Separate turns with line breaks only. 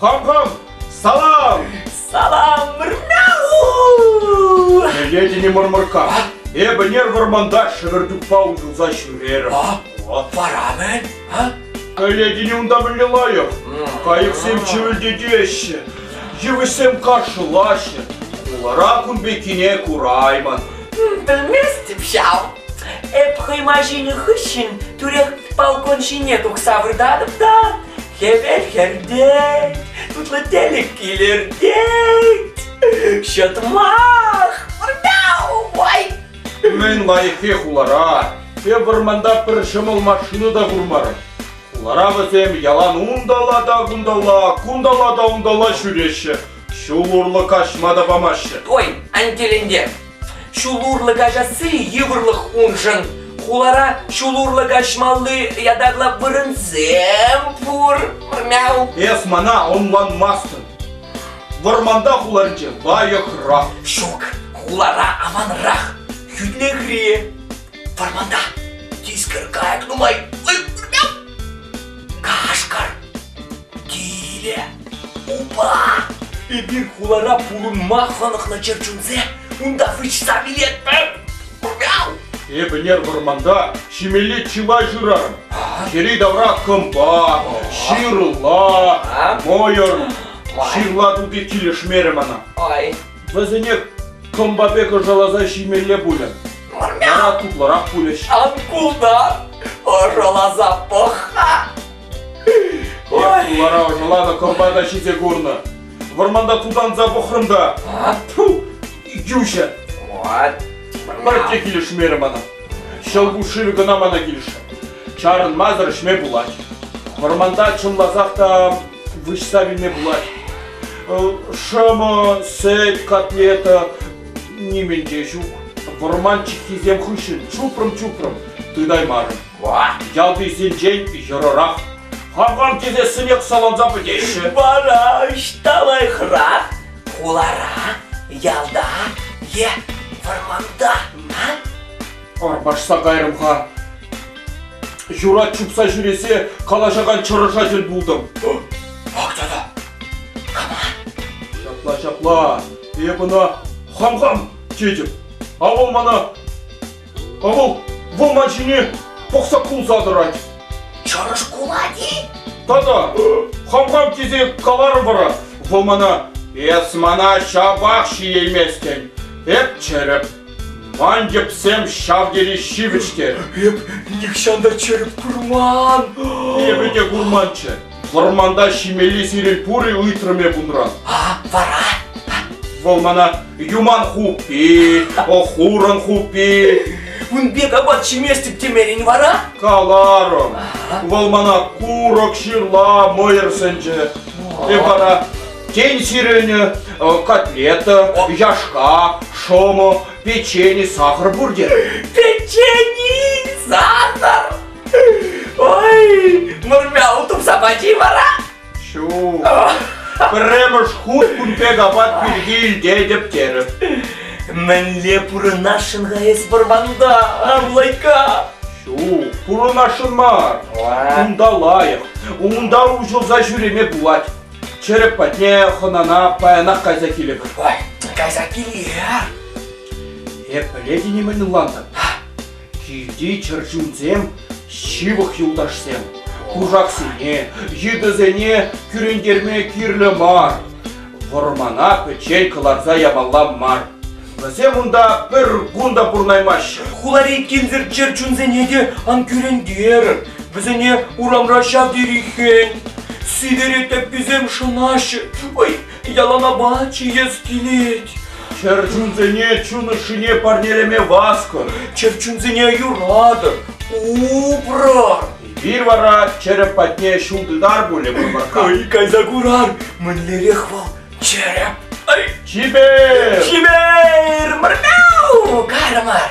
Хам-хам! Салам! Салам!
Рау!
Пӗлетӗн-и, мӑрмӑркка, эпӗ нер вӑрманта шӗвӗртукпа уҫӑлса ҫӳрерӗм. Вара-мӗн,
а?
Пӗлетӗн-и унта мӗнле лайӑх? Кайӑксем чӗвӗлтетеҫҫӗ, йывӑҫсем каршӑлаҫҫӗ. Хулара кун пеккине кураймӑн. Белместӗп
ҫав. Эп хӑйма ҫинӗ хыҫҫӑн тӳрех балкон ҫине тухса выртатӑп та Хӗвел хӗртет, тутлӑ тӗлӗк килӗртет. Ҫӑтмах! Ой! Мӗн лайӑххи
хулара. Те вӑрманта пӗр ҫӑмӑл машина та курмарӑм. Хулара вӗсем ялан унталла та кунталла, кунталла та унталла ҫӳреҫҫӗ. Ҫул урлӑ каҫма та памаҫҫӗ. Ой, ан тӗлӗнтер.
Ҫул урлӑ каҫасси йывӑрлӑх уншӑн. Хулара ҫул урлӑ каҫмалли ятарлӑ вырӑнсем пур. Мяу. Эх, мана
ӑнланмастӑн. Вӑрманта хуларинче лайӑхрах. Ҫук,
хулара аванрах. Хӳтлӗхри. Вӑрманта тискер кайӑк нумай. Ой, мяу. Кашкӑр. Киле, упа! Эпир хулара пурӑнма хӑнӑхнӑ чӗрчунсем, унта вычса вилетпӗр! Эп ӗнер
вӑрманта ҫимелли чылай шырарӑм. Йӗри-тавра кӑмпа, ҫырла, мӑйӑр. Ҫырла тути килӗшмерӗ мана.
Вӗсене
кӑмпа пек ӑшаласа ҫимелле пулӗ. Вара
тутлӑрах
пулӗҫ. Ан култар,
ӑшаласа пӑх-ха! Ой! Хулара ӑшӑланӑ
кӑрпата ҫисе курнӑ. Вӑрманта тутанса пӑхрӑм та. Ту, Юҫа.
Пӗртте
килӗшмерӗ мана. Ҫӑлкуҫ шывӗ кӑна мана килӗшрӗ. Чарӑнмасӑр ӗҫме пулать. Вӑрманта чӑмласах та выҫса вилме пулать. Шӑмӑ, сӗт, котлета нимӗн те ҫук. Вӑрман чиккисем хыҫҫӑн чупрӑм-чупрӑм, тытаймарӑм. Ялтисенчен йӑрӑрах хакам тесессӗнех саланса пӗтеҫҫӗ. Вара ӑҫта
лайӑхрах? Хулара, ялта е вӑрманта?
Арпашса кайрӑм-ха. Юрать чупса ҫӳресе калаҫакан чӑрӑша тӗл пултӑм. Ак тата.
Ҫапла, ҫапла.
Эп ӑна хам-хам тетӗп. А вӑл мана Авал вӑл ман ҫине пӑхса кулса тӑрать. Чӑрӑш
кулать-и? Тата,
хам-хам тесе каларӑм вара, вӑл мана эс мана ҫапах ҫиейместӗн. Эп чӗрӗп, ман йӗпсем ҫав тери ҫивӗч те. Эп
нихҫан та чӗрӗп курман. Эпӗ те
курманччӗ, Вӑрманта ҫимелли сирӗн пур-и? ыйтрӑм эп унран. А, вара?
Вӑл
мана юман хуппи, хурӑн хуппи. Ун пек апат
ҫиместӗп темен вара? Каларӑм.
Вӑл мана курӑк ҫырла мӑйӑр сӗнчӗ. Эп вара тен сирӗнӗ э, котлета, яшка, шӑмӑ, печени, сахар пур терӗм. Печени,
сахар! Ой, мурмя утупса пачи вара? Ҫу,
пӗрремӗш хут кун пек апат пирки илтетӗп терӗп. Мӗнле
пурӑнасшӑн-ха эс вӑрманта, авлайка? Ҫу,
пурӑнасшӑн мар. Унта лайӑх, унта уҫӑлса ҫӳреме пулать. Чӗрӗк патне хӑнана паянах кайса килӗпӗр. Ой, кайса
киле. Эп
пӗлетӗн-и мӗн ӑнлантӑм? Килти чӗрчунсем ҫывӑх юлташсем кушаксене, йытӑсене кӳрентерме кирлӗ мар. Вӑрмана пӗччен кӑларса ямалла мар. Вӗсем унта пӗр кун та пурӑнаймаҫҫӗ. Хулари кимсӗр
чӗрчунсене те ан кӳрентер. Вӗсене урамра ҫав тери хӗн. Сивӗре тӗпписем шӑнаҫҫӗ. Ой, Яланапа чиес килет. Чӗрчунсене
чун ӑшшине парнелеме васкӑр. Чӗрчунсене
юратӑр, упрар. Эпир вара
череп патне ҫул тытар пулӗ Мурманка. Ай, кайса курар,
мӗнлерех вӑл череп? Ай, Чипер!
Чипер,
Мурмяу, кармар!